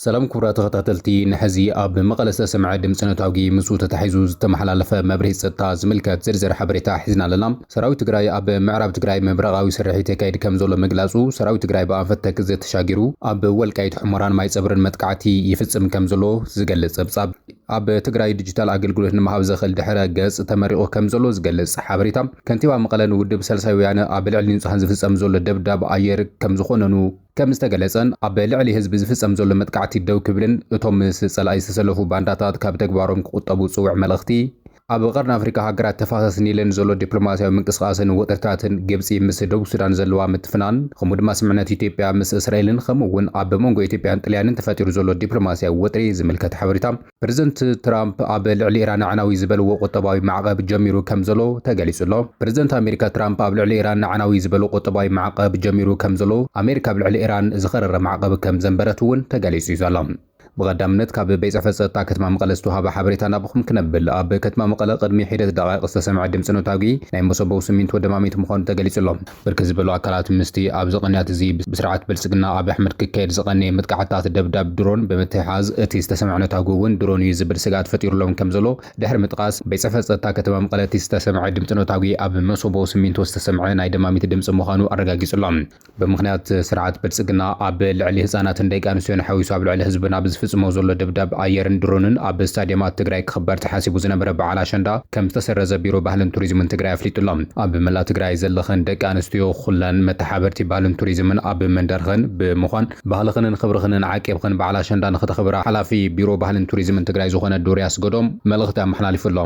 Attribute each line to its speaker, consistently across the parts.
Speaker 1: ሰላም ክቡራት ተኸታተልቲ ንሐዚ ኣብ መቐለ ዝተሰምዐ ድምፂ ነታጒ ምስኡ ተታሒዙ ዝተመሓላለፈ መብርሂ ፀጥታ ዝምልከት ዝርዝር ሓበሬታ ሒዝና ኣለና። ሰራዊት ትግራይ ኣብ ምዕራብ ትግራይ ምብራቓዊ ስርሒት የካይድ ከምዘሎ ምግላፁ ሰራዊት ትግራይ ብኣንፈት ተክዘ ተሻጊሩ ኣብ ወልቃይት ሑመራን ማይፀብሪን መጥቃዕቲ ይፍፅም ከምዘሎ ዝገልፅ ፀብፃብ ኣብ ትግራይ ዲጂታል ኣገልግሎት ንምሃብ ዘኽእል ድሕረ ገፅ ተመሪቑ ከምዘሎ ዝገልፅ ሓበሬታ ከንቲባ መቐለ ንውድብ ሳልሳይ ወያነ ኣብ ልዕሊ ንፁሃን ዝፍፀም ዘሎ ደብዳብ ኣየር ከምዝኾነኑ ከም ዝተገለፀን ኣብ ልዕሊ ህዝቢ ዝፍፀም ዘሎ መጥቃዕቲ ደው ክብልን እቶም ምስ ፀላኢ ዝተሰለፉ ባንዳታት ካብ ተግባሮም ክቑጠቡ ፅውዕ መልእኽቲ ኣብ ቀርኒ ኣፍሪካ ሃገራት ተፋሰስ ኒልን ዘሎ ዲፕሎማሲያዊ ምንቅስቓስን ወጥርታትን ግብፂ ምስ ደቡብ ሱዳን ዘለዋ ምትፍናን ከምኡ ድማ ስምምዕነት ኢትዮጵያ ምስ እስራኤልን ከምኡ እውን ኣብ መንጎ ኢትዮጵያን ጥልያንን ተፈጢሩ ዘሎ ዲፕሎማሲያዊ ወጥሪ ዝምልከት ሓበሬታ ፕረዚደንት ትራምፕ ኣብ ልዕሊ ኢራን ኣዕናዊ ዝበልዎ ቁጠባዊ ማዕቐብ ጀሚሩ ከምዘሎ ተገሊጹ'ሎ። ፕረዚደንት ኣሜሪካ ትራምፕ ኣብ ልዕሊ ኢራን ኣዕናዊ ዝበሎ ቁጠባዊ ማዕቐብ ጀሚሩ ከምዘሎ፣ ኣሜሪካ ኣብ ልዕሊ ኢራን ዝኸረረ ማዕቐብ ከምዘንበረት'ውን ተገሊጹ'ዩ ዘሎ። ብቐዳምነት ካብ ቤት ጽሕፈት ጸጥታ ከተማ መቐለ ዝተዋህበ ሓበሬታ ናባኹም ክነብል። ኣብ ከተማ መቐለ ቅድሚ ሒደት ደቓይቕ ዝተሰምዐ ድምጺ ነታጒ ናይ መሰቦው ስሚንቶ ደማሚት ምዃኑ ተገሊጹ'ሎ። ብርክት ዝበሉ ኣካላት ምስቲ ኣብዚ ቅንያት እዚ ብስርዓት ብልጽግና ኣብይ ኣሕመድ ክካየድ ዝቐነየ ምጥቃዕታት ደብዳብ ድሮን ብምትሕሓዝ እቲ ዝተሰምዐ ነታጒ እውን ድሮን እዩ ዝብል ስግኣት ፈጢሩሎም ከምዘሎ ድሕሪ ምጥቓስ ቤት ጽሕፈት ጸጥታ ከተማ መቐለ እቲ ዝተሰምዐ ድምጺ ነታጒ ኣብ መሶቦ ስሚንቶ ዝተሰምዐ ናይ ደማሚት ድምጺ ምዃኑ ኣረጋጊጹ ኣሎ። ብምኽንያት ስርዓት ብልጽግና ኣብ ልዕሊ ህጻናትን ደቂ ኣንስትዮን ሓዊሱ ኣብ ልዕሊ ህዝብና ብዝፍጽሞ ዘሎ ደብዳብ ኣየርን ድሮንን ኣብ ስታድየማት ትግራይ ክኽበር ተሓሲቡ ዝነበረ በዓል ኣሸንዳ ከምዝተሰረዘ ቢሮ ባህልን ቱሪዝምን ትግራይ ኣፍሊጡ ኣሎ። ኣብ መላእ ትግራይ ዘለኽን ደቂ ኣንስትዮ ኹለን መተሓበርቲ ባህልን ቱሪዝምን ኣብ መንደርኽን ብምዃን ባህልኽንን ኽብርኽንን ዓቂብኽን በዓል ኣሸንዳ ንኽተኽብራ ሓላፊ ቢሮ ባህልን ቱሪዝምን ትግራይ ዝኾነ ዶሪ ኣስገዶም መልእኽቲ ኣመሓላሊፉ ኣሎ።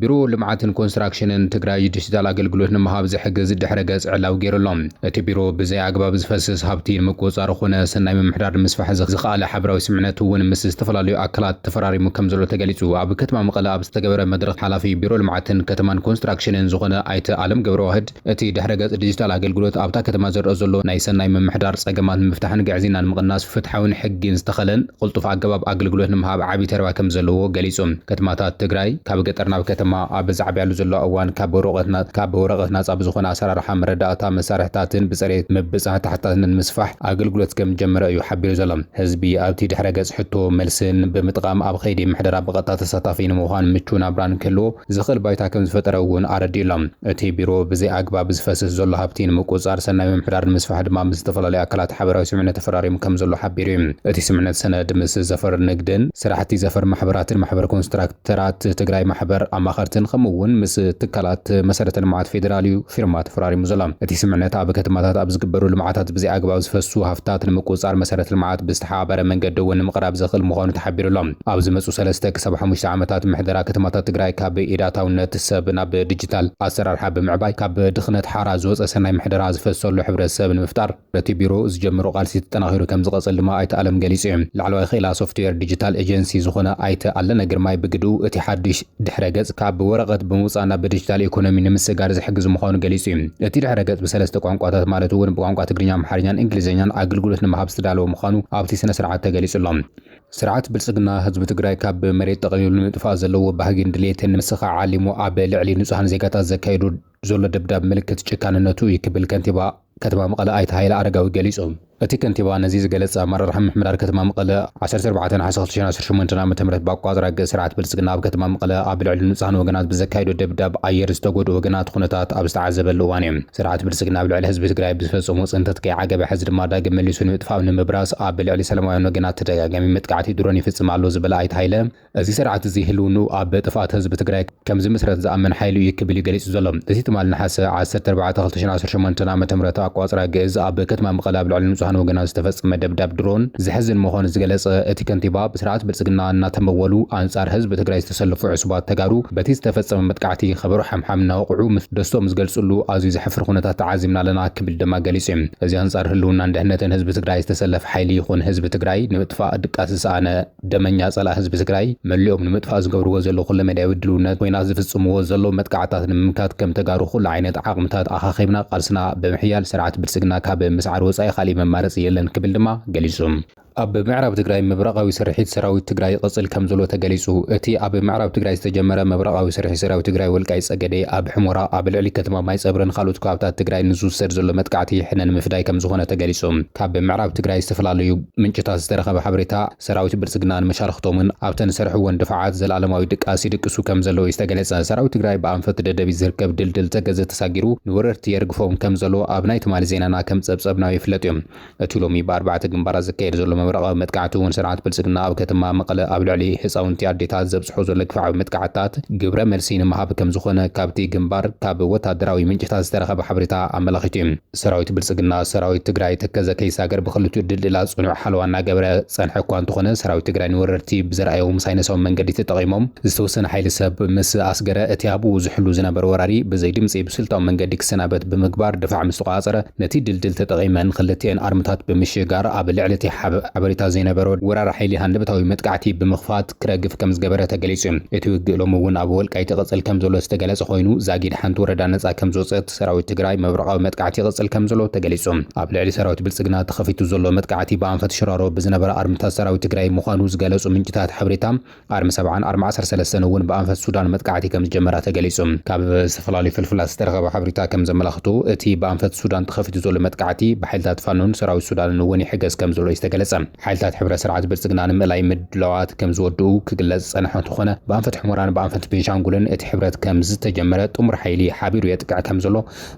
Speaker 1: ቢሮ ልምዓትን ኮንስትራክሽንን ትግራይ ዲጂታል ኣገልግሎት ንምሃብ ዝሕግዝ ድሕረ ገፅ ዕላዊ ገይሩ ኣሎ። እቲ ቢሮ ብዘይ ኣግባብ ዝፈስስ ሃብቲ ንምቁፅፃር ኾነ ሰናይ ምምሕዳር ንምስፋሕ ዝኸኣለ ሓበራዊ ስምምዕነት እውን ምስ ዝተፈላለዩ ኣካላት ተፈራሪሙ ከምዘሎ ተገሊፁ። ኣብ ከተማ መቐለ ኣብ ዝተገበረ መድረኽ ሓላፊ ቢሮ ልምዓትን ከተማን ኮንስትራክሽንን ዝኾነ ኣይተ ኣለም ገብረዋህድ እቲ ድሕረ ገፅ ዲጂታል ኣገልግሎት ኣብታ ከተማ ዝረኣ ዘሎ ናይ ሰናይ ምምሕዳር ፀገማት ንምፍታሕን ግዕዝይና ንምቕናስ ፍትሓዊን ሕጊን ዝተኸለን ቕልጡፍ ኣገባብ ኣገልግሎት ንምሃብ ዓብይ ተረባ ከምዘለዎ ገሊፁ ከተማታት ትግራይ ካብ ገጠር ናብ ከተማ ኣብ ዝዓብያሉ ዘለዋ እዋን ካብ ወረቐት ናፃ ብዝኾነ ኣሰራርሓ መረዳእታ መሳርሕታትን ብፅሬት ምብፃሕ ተሓታትነት ምስፋሕ ኣገልግሎት ከምዝጀመረ እዩ ሓቢሩ ዘሎ። ህዝቢ ኣብቲ ድሕረ ገጽ ሕቶ መልስን ብምጥቓም ኣብ ኸይዲ ምሕደራ ብቐጥታ ተሳታፊ ንምዃን ምቹው ናብራ ንክህልዎ ዝኽእል ባይታ ከምዝፈጠረ እውን ኣረዲኡ ኣሎ። እቲ ቢሮ ብዘይ ኣግባብ ዝፈስስ ዘሎ ሃብቲ ንምቁጽጻር ሰናይ ምምሕዳር ንምስፋሕ ድማ ምስ ዝተፈላለዩ ኣካላት ሓበራዊ ስምምዕነት ተፈራሪሙ ከምዘሎ ሓቢሩ እዩ። እቲ ስምምዕነት ሰነድ ምስ ዘፈር ንግድን ስራሕቲ ዘፈር ማሕበራትን ማሕበር ኮንስትራክተርን፣ ተራት ትግራይ ማሕበር ኣማኸርትን ከምኡ እውን ምስ ትካላት መሰረተ ልምዓት ፌዴራል እዩ ፊርማ ተፈራሪሙ ዘሎ። እቲ ስምዕነት ኣብ ከተማታት ኣብ ዝግበሩ ልምዓታት ብዘይኣግባብ ዝፈሱ ሃፍትታት ንምቁፅፃር መሰረተ ልምዓት ብዝተሓባበረ መንገዲ እውን ንምቕራብ ዘኽእል ምዃኑ ተሓቢሩ ኣሎ። ኣብ ዝመፁ ሰለስተ ክሳብ ሓሙሽተ ዓመታት ምሕደራ ከተማታት ትግራይ ካብ ኢድ ኣታውነት ሰብ ናብ ዲጂታል ኣሰራርሓ ብምዕባይ ካብ ድኽነት ሓራ ዝወፀ ሰናይ ምሕደራ ዝፈሰሉ ሕብረተሰብ ንምፍጣር በቲ ቢሮ ዝጀመሮ ቃልሲ ተጠናኺሩ ከምዝቐፅል ድማ ኣይተ ኣለም ገሊፁ ዩ። ላዕለዋይ ክኢላ ሶፍትዌር ዲጂታል ኤጀንሲ ዝኾነ ኣይተ ኣለነ ግርማይ ብግድኡ እቲ ሓዱሽ ድሕረ ገፅ ካብ ወረቐት ብምውፃእ ናብ ብዲጂታል ኢኮኖሚ ንምስግጋር ዝሕግዝ ምዃኑ ገሊፁ ዩ። እቲ ድሕረ ገፅ ብሰለስተ ቋንቋታት ማለት ውን ብቋንቋ ትግርኛ፣ ኣምሓርኛን እንግሊዘኛን ኣግልግሎት ንምሃብ ዝተዳለወ ምዃኑ ኣብቲ ስነ ስርዓት ተገሊፁ ኣሎ። ስርዓት ብልፅግና ህዝቢ ትግራይ ካብ መሬት ጠቕሊሉ ንምጥፋእ ዘለዎ ባህጊን ድሌትን ንምስኻዕ ዓሊሙ ኣብ ልዕሊ ንፁሃን ዜጋታት ዘካየዶ ዘሎ ደብዳብ ምልክት ጭካንነቱ እዩ ክብል ከንቲባ ከተማ መቐለ ኣይተ ሃይለ ኣረጋዊ ገሊፁ። እቲ ከንቲባ ነዚ ዝገለፀ ኣመራርሓ ምምሕዳር ከተማ መቐለ ዓሰርተ ኣርባዕተ ነሓሰ ክልተ ሽሕን ዓሰርተ ሸሞንተን ዓመተ ምህረት ብኣቆፃፅራ ግእዝ ስርዓት ብልፅግና ኣብ ከተማ መቐለ ኣብ ልዕሊ ንፁሃን ወገናት ብዘካየዶ ደብዳብ ኣየር ዝተጎድኡ ወገናት ኹነታት ኣብ ዝተዓዘበሉ እዋን እዩ። ስርዓት ብልፅግና ኣብ ልዕሊ ህዝቢ ትግራይ ብዝፈፀሞ ፅንተት ከይዓገበ ሐዚ ድማ ዳግም መሊሱ ንምጥፋእ ኣብ ንምብራስ ኣብ ልዕሊ ሰላማውያን ወገናት ተደጋጋሚ መጥቃዕቲ ድሮን ይፍፅም ኣሎ ዝበለ ኣይተ ሃይለ እዚ ስርዓት እዚ ህልውንኡ ኣብ ጥፍኣት ህዝቢ ትግራይ ከም ዝምስረት ዝኣምን ሓይሊ እዩ ክብል እዩ ገሊፁ ዘሎ። እዚ ትማል ነሓሰ ዓሰርተ ኣርባዕተ ክልተ ሽሕን ዓሰርተ ሸሞንተን ዓመተ ምህረት ኣቆፃፅራ ግእዝ ኣብ ከተማ መቐለ ኣብ ልዕሊ ንፁሃን ወገናት ዝተፈፀመ ደብዳብ ድሮን ዘሕዝን ምዃኑ ዝገለፀ እቲ ከንቲባ ብስርዓት ብልፅግና እናተመወሉ ኣንፃር ህዝቢ ትግራይ ዝተሰለፉ ዕሱባት ተጋሩ በቲ ዝተፈፀመ መጥቃዕቲ ከበሮ ሓምሓም እናወቕዑ ደስትኦም ዝገልፅሉ ኣዝዩ ዘሕፍር ኩነታት ተዓዚብና ኣለና ክብል ድማ ገሊፁ እዩ። እዚ ኣንፃር ህልውናን ድሕነትን ህዝቢ ትግራይ ዝተሰለፈ ሓይሊ ይኹን ህዝቢ ትግራይ ንምጥፋእ ድቃስ ዝሰኣነ ደመኛ ጸላእ ህዝቢ ትግራይ መሊኦም ንምጥፋእ ዝገብርዎ ዘለዉ ኩለመዳያዊ ድልውነት፣ ኹናት ዝፍጽምዎ ዘለዉ መጥቃዕትታት ንምምካት ከም ተጋሩ ኩሉ ዓይነት ዓቕምታት ኣኻኺብና ቃልስና ብምሕያል ስርዓት ብልጽግና ካብ ምስዓር ወጻኢ ካሊእ መማረጺ የለን ክብል ድማ ገሊጹ። ኣብ ምዕራብ ትግራይ ምብራቓዊ ስርሒት ሰራዊት ትግራይ ይቕጽል ከም ዘሎ ተገሊጹ። እቲ ኣብ ምዕራብ ትግራይ ዝተጀመረ ምብራቓዊ ስርሒት ሰራዊት ትግራይ ወልቃይት ጸገዴ፣ ኣብ ሕሞራ፣ ኣብ ልዕሊ ከተማ ማይጸብሪን ኻልኦት ከባብታት ትግራይን ንዝውሰድ ዘሎ መጥቃዕቲ ሕነ ንምፍዳይ ከም ዝኾነ ተገሊጹ። ካብ ምዕራብ ትግራይ ዝተፈላለዩ። ምንጭታት ዝተረኸበ ሓበሬታ፣ ሰራዊት ብልጽግና ንመሻርኽቶምን ኣብተን ዝሰርሕወን ድፋዓት ዘለኣለማዊ ድቃስ ይድቅሱ ከምዘለዉ'ዩ ዝተገለጸ። ሰራዊት ትግራይ ብኣንፈት ደደቢት ዝርከብ ድልድል ተከዘ ተሳጊሩ ንወረርቲ የርግፎም ከምዘሎ ኣብ ናይ ትማሊ ዜናና ከምጸብጸብናዮ ይፍለጥ'ዩ። እቲ ሎሚ ብኣርባዕተ ግንባራት ዝካየድ ዘሎ መብረቓዊ መጥቃዕቲ'ውን ስርዓት ብልጽግና ኣብ ከተማ መቐለ ኣብ ልዕሊ ህጻውንቲ ኣዴታት ዘብጽሖ ዘሎ ግፍዓዊ መጥቃዕትታት ግብረ መልሲ ንምሃብ ከምዝኾነ ካብቲ ግንባር ካብ ወታደራዊ ምንጭታት ዝተረኸበ ሓበሬታ ኣመላኺቱ'ዩ። ሰራዊት ብልፅግና ሰራዊት ትግራይ ተከዘ ከይሳገር ብክልቲኡ ድልድላት ፅኑዕ ሓለዋ እናገበረ ዝፀንሐ እኳ እንተኾነ ሰራዊት ትግራይ ንወረርቲ ብዘርኣዮም ሳይነሳዊ መንገዲ ተጠቒሞም ዝተወሰነ ሓይሊ ሰብ ምስ ኣስገረ እቲ ኣብኡ ዝሕሉ ዝነበረ ወራሪ ብዘይ ድምፂ ብስልታዊ መንገዲ ክሰናበት ብምግባር ድፋዕ ምስ ተቖፃፀረ ነቲ ድልድል ተጠቒመን ኽልቲኤን ኣርምታት ብምሽጋር ኣብ ልዕሊ እቲ ሓበሬታ ዘይነበሮ ወራሪ ሓይሊ ሃንደበታዊ መጥቃዕቲ ብምኽፋት ክረግፍ ከምዝገበረ ተገሊፁ እዩ። እቲ ውግእ ሎሚ እውን ኣብ ወልቃይት ይቕፅል ከምዘሎ ዝተገለፀ ኮይኑ ዛጊድ ሓንቲ ወረዳ ነፃ ከምዝወፀት ሰራዊት ትግራይ መብረቓዊ መጥቃዕቲ ይቕፅል ከምዘሎ ተገሊፁ። ኣብ ልዕሊ ሰራዊት ብልፅግና ተኸፊቱ ዘሎ መጥቃዕቲ ብኣንፈት ሽራሮ ብዝነበረ ኣርምታት ሰራዊት ትግራይ ምዃኑ ዝገለፁ ምንጭታት ሓበሬታ፣ ኣርሚ ሰብዓን ኣርሚ ዓሰርተ ሰለስተን እውን ብኣንፈት ሱዳን መጥቃዕቲ ከምዝጀመራ ተገሊፁ። ካብ ዝተፈላለዩ ፍልፍላት ዝተረኸበ ሓበሬታ ከምዘመላኽቶ እቲ ብኣንፈት ሱዳን ተኸፊቱ ዘሎ መጥቃዕቲ ብሓይልታት ፋኖን ሰራዊት ሱዳንን እውን ይሕገዝ ከምዘሎ እዩ ዝተገለፀ። ሓይልታት ሕብረ ስርዓት ብልፅግና ንምእላይ ምድላዋት ከምዝወድኡ ክግለፅ ዝፀንሐ እንትኾነ ብኣንፈት ሑመራን ብኣንፈት ቤንሻንጉልን እቲ ሕብረት ከምዝተጀመረ ጥሙር ሓይሊ ሓቢሩ የጥቅዕ ከምዘሎ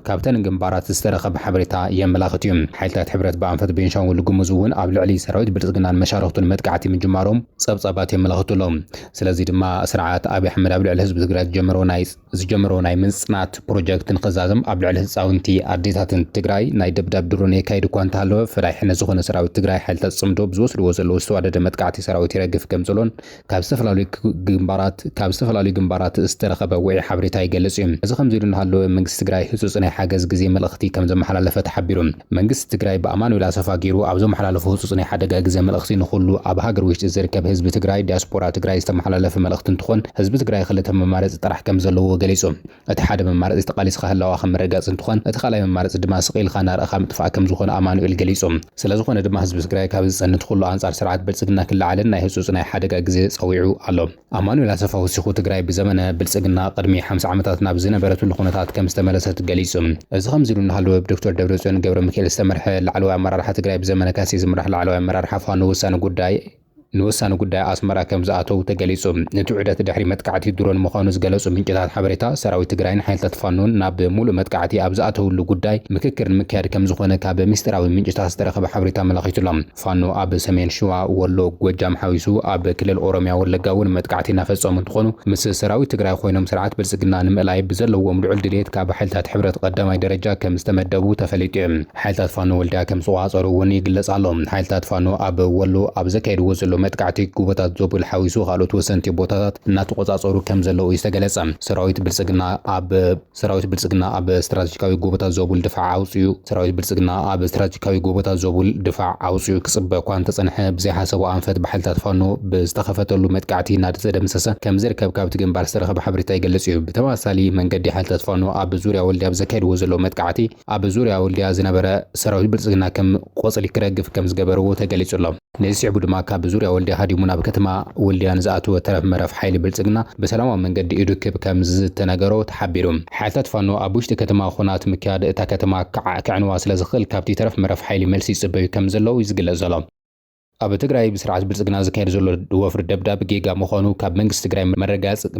Speaker 1: ካብተን ግንባራት ዝተረኸበ ሓበሬታ የመላኽት እዩ። ሓይልታት ሕብረት ብኣንፈት ቤንሻንጉል ጉሙዝ እውን ኣብ ልዕሊ ሰራዊት ብልፅግናን መሻርኽቱን መጥቃዕቲ ምጅማሮም ፀብፃባት የመላኽቱ ኣለው። ስለዚ ድማ ስርዓት ኣብይ ኣሕመድ ኣብ ልዕሊ ህዝቢ ትግራይ ዝጀመሮ ናይ ዝጀመሮ ናይ ምጽናት ፕሮጀክት ንክዛዘም ኣብ ልዕሊ ህጻውንቲ ኣዴታትን ትግራይ ናይ ደብዳብ ድሮን የካይድ እኳ እንተሃለወ ፈዳይ ሕነ ዝኾነ ሰራዊት ትግራይ ሓይልታት ጽምዶ ብዝወስድዎ ዘለዉ ዝተዋደደ መጥቃዕቲ ሰራዊት ይረግፍ ከምዘሎን ካብ ዝተፈላለዩ ግንባራት ካብ ዝተፈላለዩ ግንባራት ዝተረኸበ ውዒ ሓበሬታ ይገልጽ እዩ። እዚ ከምዚ ኢሉ እናሃለወ መንግስቲ ትግራይ ህጹጽ ናይ ሓገዝ ግዜ መልእኽቲ ከምዘመሓላለፈ ተሓቢሩ። መንግስቲ ትግራይ ብኣማኑኤል ኣሰፋ ገይሩ ኣብ ዘመሓላለፎ ህፁፅ ናይ ሓደጋ ግዘ መልእኽቲ ንኹሉ ኣብ ሃገር ውሽጢ ዝርከብ ህዝቢ ትግራይ ዲያስፖራ ትግራይ ዝተመሓላለፈ መልእኽቲ እንትኾን ህዝቢ ትግራይ ኽልተ መማረፂ ጥራሕ ከምዘለዎ ገሊፁ። እቲ ሓደ መማረፂ ተቓሊስኻ ህላዋኻ ምርግጋፅ እንትኾን እቲ ኻልኣይ መማረፂ ድማ ስቕ ኢልኻ እናረኣኻ ምጥፋእ ከምዝኾነ ኣማኑኤል ገሊፁ። ስለዝኾነ ድማ ህዝቢ ትግራይ ካብ ዝፀንት ኹሉ ኣንፃር ስርዓት ብልፅግና ክለዓልን ናይ ህፁፅ ናይ ሓደጋ ግዘ ፀዊዑ ኣሎ። ኣማኑኤል ኣሰፋ ወሲኹ፣ ትግራይ ብዘመነ ብልፅግና ቅድሚ ሓምሳ ዓመታት ናብ ዝነበረትሉ ኩነታት ከምዝተመለሰት ገሊፁ። እዚ ከምዚ ኢሉ እናሃለወ ብዶክተር ደብረፅዮን ገብረሚካኤል ዝተመርሐ ላዕለዋይ ኣመራርሓ ትግራይ ብዘመነ ካሴ ዝምራሕ ላዕለዋይ ኣመራርሓ ፋኖ ወሳኒ ጉዳይ ንወሳኒ ጉዳይ ኣስመራ ከምዝኣተው ተገሊፁ። እቲ ዑደት ድሕሪ መጥቃዕቲ ድሮን ምዃኑ ዝገለፁ ምንጭታት ሓበሬታ፣ ሰራዊት ትግራይን ሓይልታት ፋኖን ናብ ሙሉእ መጥቃዕቲ ኣብ ዝኣተውሉ ጉዳይ ምክክር ንምክያድ ከምዝኾነ ካብ ሚስጢራዊ ምንጭታት ዝተረኸበ ሓበሬታ ኣመላኺቱ'ሎ። ፋኖ ኣብ ሰሜን ሽዋ፣ ወሎ፣ ጎጃም ሓዊሱ ኣብ ክልል ኦሮሚያ ወለጋ እውን መጥቃዕቲ እናፈፀሙ እንትኾኑ ምስ ሰራዊት ትግራይ ኾይኖም ስርዓት ብልፅግና ንምእላይ ብዘለዎም ልዑል ድልየት ካብ ሓይልታት ሕብረት ቐዳማይ ደረጃ ከምዝተመደቡ ተፈሊጡ ዩ። ሓይልታት ፋኖ ወልዲያ ከምዝተቖፃፀሩ እውን ይግለፅ ኣሎ። ሓይልታት ፋኖ ኣብ ወሎ ኣብ ዘካይድዎ ዘለዉ መጥቃዕቲ ጎቦታት ዞብል ሓዊሱ ኻልኦት ወሰንቲ ቦታታት እናተቖፃፀሩ ከምዘለዉ ዩ ዝተገለፀ። ሰራዊት ብልፅግና ኣብ። ሰራዊት ብልፅግና ኣብ ስትራቴጂካዊ ጎቦታት ዞቡል ድፋዕ ኣውፂኡ ሰራዊት ብልፅግና ኣብ ስትራቴጂካዊ ጎቦታት ዞቡል ድፋዕ ኣውፂኡ ክፅበ እኳ እንተፀንሐ ብዘይሓሰቦ ኣንፈት ብሓይልታት ፋኖ ብዝተኸፈተሉ መጥቃዕቲ እናተደምሰሰ ከምዝርከብ ካብቲ ግንባር ዝተረኸበ ሓበሬታ ይገልፅ እዩ። ብተመሳሳሊ መንገዲ ሓይልታት ፋኖ ኣብ ዙርያ ወልድያ ብዘካይድዎ ዘለዉ መጥቃዕቲ ኣብ ዙርያ ወልድያ ዝነበረ ሰራዊት ብልፅግና ከም ቆፅሊ ክረግፍ ከም ዝገበርዎ ተገሊፁ ኣሎ። ነዚ ስዒቡ ድማ ካብ ዙርያ ወልድያ ሃዲሙ ናብ ከተማ ወልድያ ንዝኣተወ ተረፍ መረፍ ሓይሊ ብልፅግና ብሰላማዊ መንገዲ ኢዱ ክብ ከም ዝተነገሮ ተሓቢሩ። ሓይልታት ፋኖ ኣብ ውሽጢ ከተማ ኹናት ምክያድ እታ ከተማ ክዓ ከዕንዋ ስለ ዝኽእል ካብቲ ተረፍ መረፍ ሓይሊ መልሲ ይፅበዩ ከም ዘለዉ እዩ ዝግለፅ ዘሎ። ኣብ ትግራይ ብስርዓት ብልፅግና ዝካየድ ዘሎ ወፍሪ ደብዳብ ጌጋ ምዃኑ ካብ መንግስቲ ትግራይ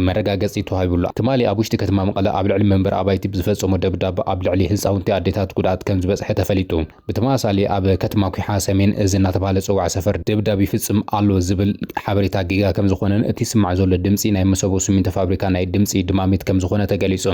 Speaker 1: መረጋገፂ ተዋሂቡ'ሎ። ትማሊ ኣብ ውሽጢ ከተማ መቐለ ኣብ ልዕሊ መንበሪ ኣባይቲ ብዝፈፀሞ ደብዳብ ኣብ ልዕሊ ህፃውንቲ ኣዴታት ጉድኣት ከምዝበፅሐ ተፈሊጡ። ብተመሳሳሊ ኣብ ከተማ ኲሓ ሰሜን እዝ እናተብሃለ ዝፅዋዕ ሰፈር ደብዳብ ይፍፅም ኣሎ ዝብል ሓበሬታ ጌጋ ከምዝኾነን እቲ ዝስማዕ ዘሎ ድምፂ ናይ መሰቦ ስሚንቶ ፋብሪካ ናይ ድምፂ ድማሚት ከምዝኾነ ተገሊፁ።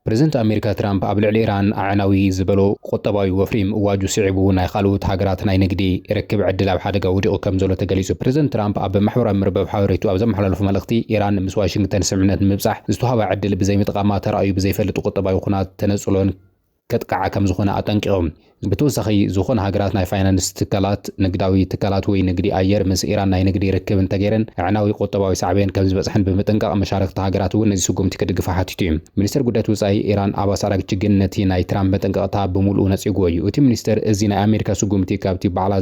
Speaker 1: ፕረዚደንት ኣሜሪካ ትራምፕ ኣብ ልዕሊ ኢራን ኣዕናዊ ዝበሎ ቁጠባዊ ወፍሪ ምእዋጁ ስዒቡ ናይ ኻልኡት ሃገራት ናይ ንግዲ ርክብ ዕድል ኣብ ሓደጋ ወዲቑ ከምዘሎ ተገሊፁ። ፕረዚደንት ትራምፕ ኣብ ማሕበራዊ መርበብ ሓበሬትኡ ኣብ ዘመሓላለፎ መልእኽቲ ኢራን ምስ ዋሽንግተን ስምምዕነት ንምብፃሕ ዝተውሃባ ዕድል ብዘይምጥቓማ ተራእዩ ብዘይፈልጥ ቁጠባዊ ኹናት ተነፅሎን ከጥቅዓ ከም ዝኾነ ኣጠንቂቖም። ብተወሳኺ ዝኾና ሃገራት ናይ ፋይናንስ ትካላት፣ ንግዳዊ ትካላት ወይ ንግዲ ኣየር ምስ ኢራን ናይ ንግዲ ርክብ እንተገይረን ኣዕናዊ ቁጠባዊ ሳዕቤን ከም ዝበጽሐን ብምጥንቃቕ መሻርኽቲ ሃገራት እውን ነዚ ስጉምቲ ክድግፋ ሓቲቱ እዩ። ሚኒስተር ጉዳያት ወጻኢ ኢራን ኣባስ ኣራግቺ ግን ነቲ ናይ ትራምፕ መጠንቀቕታ ብምሉኡ ነጺጉዎ እዩ። እቲ ሚኒስተር እዚ ናይ ኣሜሪካ ስጉምቲ ካብቲ ባዕላ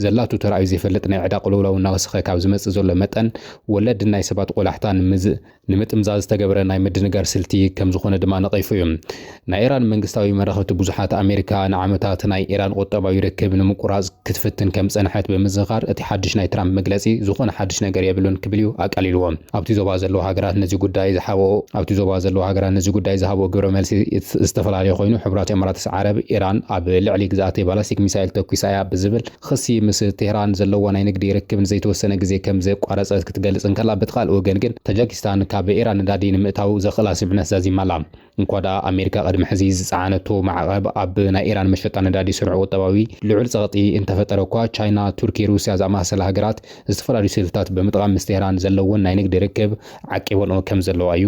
Speaker 1: ዘላቶ ተራእዩ ዘይፈልጥ ናይ ዕዳ ቅልውላው እናወሰኸ ካብ ዝመጽእ ዘሎ መጠን ወለድን ናይ ሰባት ቆላሕታን ምስ ንምጥምዛዝ ዝተገብረ ናይ ምድንጋር ስልቲ ከም ዝኾነ ድማ ነቒፉ እዩ። ናይ ኢራን መንግስታዊ መራኸብቲ ብዙሓት፣ ኣሜሪካ ንዓመታት ናይ ኢራን ቁጠባዊ ርክብ ንምቁራጽ ክትፍትን ከም ዝጸንሐት ብምዝኻር እቲ ሓድሽ ናይ ትራምፕ መግለጺ ዝኾነ ሓድሽ ነገር የብሉን ክብል እዩ ኣቃሊልዎ። ኣብቲ ዞባ ዘለዋ ሃገራት ነዚ ጉዳይ ዝሓበኦ ኣብቲ ዞባ ዘለዋ ሃገራት ነዚ ጉዳይ ዝሃበኦ ግብረ መልሲ ዝተፈላለየ ኮይኑ፣ ሕቡራት ኢማራትስ ዓረብ፣ ኢራን ኣብ ልዕሊ ግዝኣተይ ባላስቲክ ሚሳይል ተኲሳ እያ ብዝብል፣ ኽሲ ምስ ቴህራን ዘለዋ ናይ ንግዲ ርክብ ንዘይተወሰነ ግዜ ከም ዘቋረጸት ክትገልጽ እንከላ፣ በቲ ካልእ ወገን ግን ታጃኪስታን ካብ ኢራን ነዳዲ ንምእታው ዘኽእላ ስምምዕነት ዛዚማ ኣላ። እንኳ ደኣ ኣሜሪካ ቅድሚ ሕዚ ዝጸዓነቶ ማዕቐብ ኣብ ናይ ኢራን መሸጣ ነዳዲ ስሩዕ ቁጠባዊ ልዑል ጸቕጢ እንተፈጠረ'ኳ፣ ቻይና፣ ቱርኪ፣ ሩስያ ዝኣመሳሰላ ሃገራት ዝተፈላለዩ ስልትታት ብምጥቓም ምስ ቴህራን ዘለወን ናይ ንግዲ ርክብ ዓቂበንኦ ከም ዘለዋ እዩ